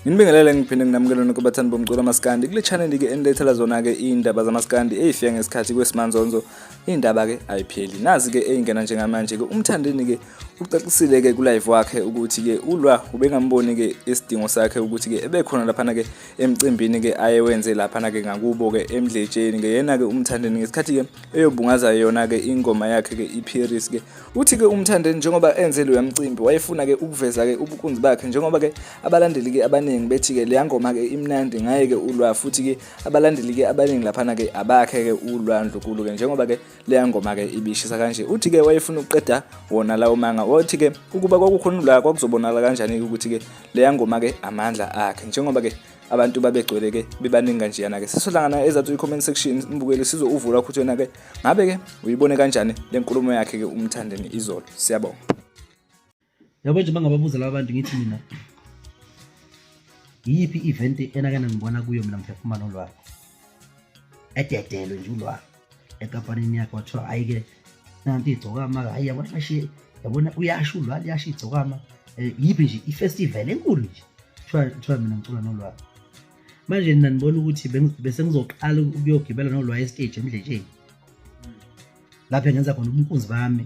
Nginibingelele ngiphinde nginamukele nokubathandi bomculo amaskandi kule channel ke enilethela zona ke indaba zamaskandi ezifika ngesikhathi kwesimandonzo indaba ke ayipheli nazi ke eyingena njengamanje ke umthandeni ke ucacisile ke ku live wakhe ukuthi ke ulwa ubengamboni ke isidingo sakhe ukuthi ke ebekhona lapha ke emcimbini ke ayewenze lapha na ke ngakubo ke emdletsheni ke yena ke umthandeni ngesikhathi ke eyobungaza yona ke ingoma yakhe ke iPiris ke uthi ke umthandeni njengoba enze lo yamcimbi wayefuna ke ukuveza ke ubukunzi bakhe njengoba ke abalandeli ke abaningi bethi ke le ngoma ke imnandi ngaye ke ulwa futhi ke abalandeli ke abaningi lapha na ke abakhe ke ulwa ndlukulu ke njengoba ke leya ngoma ke ibishisa kanje uthi ke wayefuna ukuqeda wona lawo manga wathi ke ukuba kwakukhonula kwakuzobonakala kanjani ukuthi ke leya ngoma ke amandla akhe njengoba ke abantu babegcwele ke bebaningi kanjeyana ke sisohlangana ezathi i-comment section imbukeli sizouvula ukuthi wena ke ngabe ke uyibone kanjani le nkulumo yakhe ke umthandeni izolo siyabonga yabo nje bangababuza laba bantu ngithi mina yiyiphi i-event enake nangibona kuyo mina mphefumana ulwalo ededelwe nje ulwalo enkampanini yakhe wathiwa hhayi-ke nanti igcokama hhayi yabona fashiye yabona uyasho ulwalo yasho igcokama um yiphi nje ifestival enkulu nje kuthiwa mina ngicula nolwalo manje nina nibona ukuthi bese ngizoqala ukuyogibela nolwayo esiteji emdletsheni lapho engenza khona ubunkunzi bami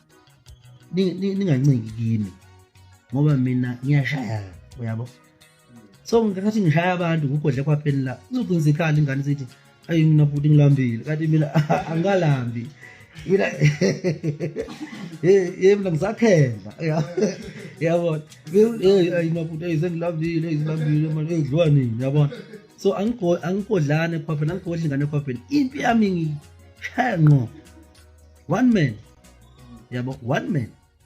ningancingi kimi ngoba mina ngiyashaya uyabo so ngikhathi ngishaya abantu ngugodle kwapheni la uzocinisa ikhala ingane sithi ayi mina futhi ngilambile kanti mina angalambi mina ye mina ngisakhendla yabona ayi mina futhi ayi sengilambile ngilambile manje ngidliwa nini yabona so angigodlane khwapheni angigodli ngane khwapheni impi yami shaya ngqo one man yabo one man